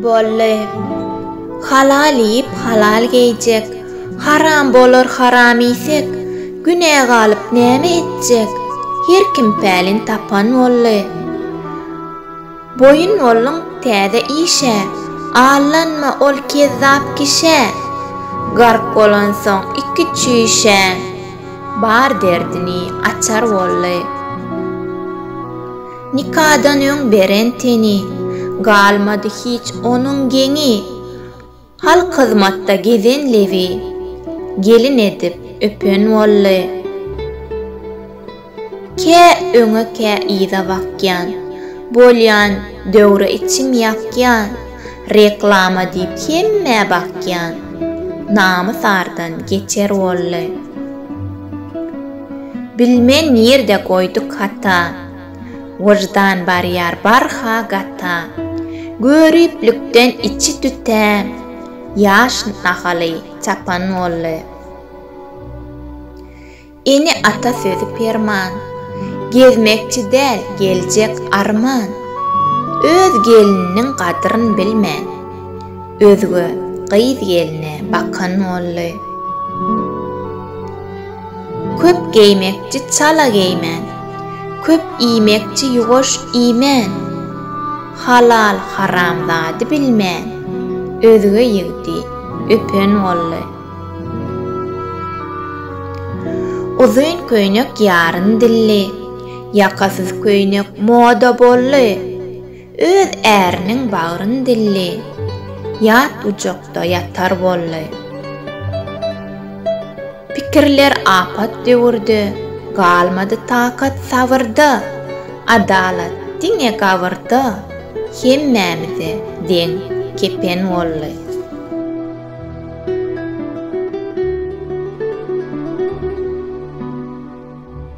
Bolly. Halal iýip, halal geýjek. Haram bolar haram iýsek, Günä galyp näme etjek? Her kim pälin tapan bolly. Boýun bolluň täze işe. Aldanma ol kezzap kişä. Gark bolansoň iki çüýşä. Bar derdini açar bolly. Nikadan öň beren teni. Galmady hiç onuň geňi. Halk hyzmatda gezen lebi. Gelin edip öpen boldy. Kä öňe kä yza bakýan. Bolýan döwre içim ýakýan. Reklama diýip hemmä bakýan. Namys ardan geçer boldy. Bilmen nirde goýduk hata. Wyždan barýar barha gata. Göriplikden içi tütä. Ýaş nahaly çapan boldy. Ene-ata sözi perman. Gezmekçi däl, geljek arman. Öz gelniniň gadryn bilmän. Özge gyz-gelne bakan boldy. Köp geýmekçi çala geýmän. Köp iýmekçi ýuwaş iýmän. Halal haramzady bilmän. Özge ýigdi öpen boldy. Uzyn köýnek ýaryn dilli. Ýakasyz köýnek moda boldy. Öz äriniň bagryn dilli. Ýat gujakda ýatar boldy. Pikirler apat döwürde. Galmady takat sabyrda. Adalat diňe gabyrda. Hemmämize deň kepen boldy.